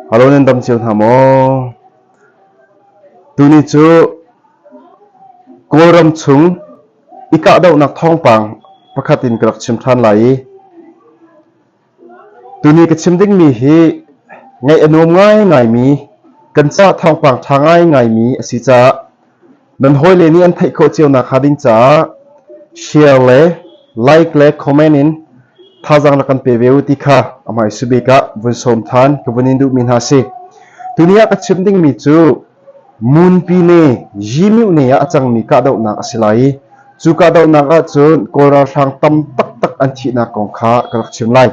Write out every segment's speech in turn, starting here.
Halo nan dam cio hna maw? Tuni cu Kawlram chung i kahdohnak thawngpang pakhat in ka rak chim ṭhan lai i tuni ka chim dingmi hi ngaih a nuam ngaingaimi kan ca thawngpang ṭha ngaingaimi a si caah Nan hawile nih an theih khawh cio nak hnga ding caah share le like le comment in thazaang la kan pe ve u ti kha amai subik ah vun som than ka vun in duh mi hna si tuni ah ka chim ding mi cu munpi ne yimiu ne ah a cang mi ka dohnak a si lai i cu ka dohnak ah cun kawl ralhrang tam taktak an thihnak kong kha ka rak chim lai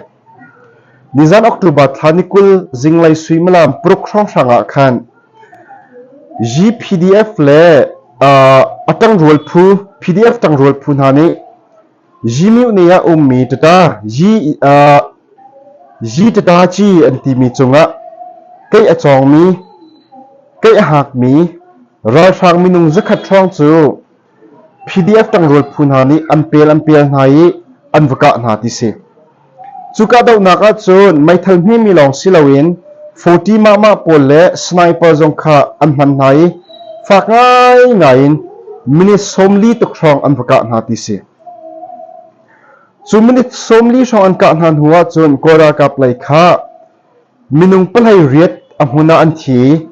Nizan October thla ni kul zinglei suimilam paruk hrawnghrang ah khan GPDF le a ṭangrual phu PDF ṭangrual phu hna nih Gmyuni ah ummi Tata Gtatachi an timi cungah keih a cawngmi keih a hakmi ralhrang minung zakhat hrawng cu PDF ṭangrual phu hna nih an pel an pel hna i an va kah hna ti si. Cu kahdohnak ahcun meithal hmemi lawng si loin forty mahmah pawl le sniper zong kha an hman hna i fak ngaingai in minute sawmli tuk hrawng an va kah hna ti si. Cu minute sawmli hrawng an kah hna hnu ahcun Kawl ralkap lei kha Minung palhei riat a hmun ah an thi i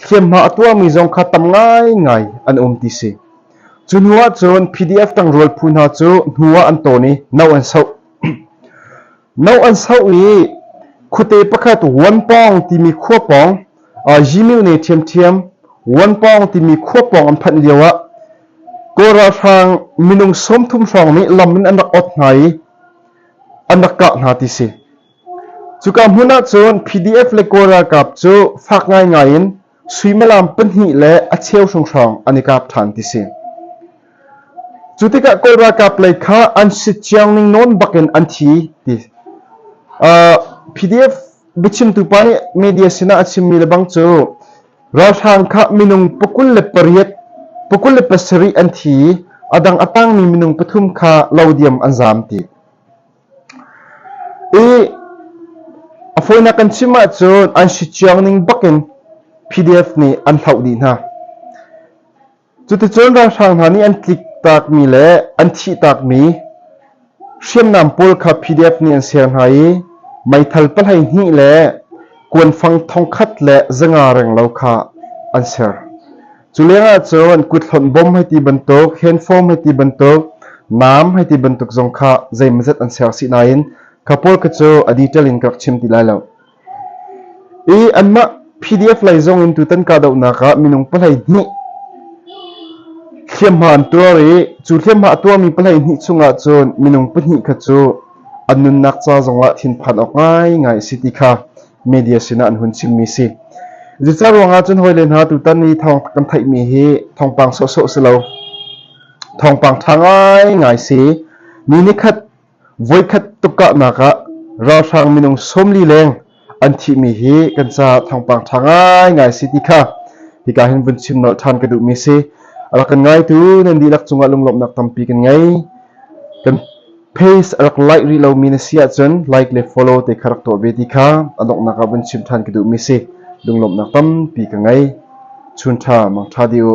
hliamhma a tuahmi zong kha tam ngaingai an um ti si. Cu hnu ahcun PDF tangrual phu hna cu hnu ah an tawn i no an soh. No an soh i khuate pakhat Wanpawng timi khua pawng uh, Yimil ne ṭhiamṭhiam Wanpawng timi khua pawng an phanh lio ah Kawra hrang minung sawmthum hrawng nih lam in an rak ot hna i an rak kah hna ti si. Cuka hmun ahcun PDF le Kawl ralkap cu fak ngaingai in suimilam pahnih le a cheu hringhran an i kap ṭhan ti si. Cu tikah Kawl ralkap lei kha an sitciang ning nawn bakin an thi ti. Uh, PDF biachimtu pa nih media sinah a chimmi lebang cu ralhrang kha minung pakul le pariat pakul le pasarih an thi i a dang a tangmi minung pathum kha lo diam an zaam ti. I a fawinak kan chim ahcun an si ciang ning bakin PDF nih an hloh dih hna. Cuticun ralhrang hna nih an tliktakmi le an thihtakmi hriamnam pawl kha PDF nih an ser hna i meithal pahlei hnih le kuanfang thongkhat le zanga renglo kha an ser. Cu lengah cun kuthlonh bom hei ti bantuk, handform hei ti bantuk, nam hei ti bantuk zong kha zeimazat an ser si nain kha pawl kha cu a detail in ka rak chim ti lai lo. I anmah PDF lei zong in tutan kahdohnak ah minung palei hnih hliamhma an tuar i cu hliamhma a tuarmi palei hnih chungah cun minung pahnih kha cu an nunnak ca zongah thinphan awk ngaingai a si ti kha media sinah an hun chimmi si. Zica ruangah cun hawile hna tutan i thawng kan theihmi hi thawngpang sawhsawh si lo. Thawngpang ṭha ngaingai si. Ni nikhat voikhat tukahnak ah ralhrang minung sawmli leng an thihmi hi kan ca thawngpang ṭha ngaingai si ti kha hika hin vun chim nolh ṭhan ka duhmi si. Rak kan ngaitu nan dihlak cungah lunglawmhnak tampi kan ngei. Kan Pace a rak laih rih lomi na si ahcun like le follow te kha rak tuah ve ti kha a donghnak ah vun chim ṭhan ka duhmi si. Lunglawmhnak tampi ka ngei. Chun ṭha, mang ṭha dih u.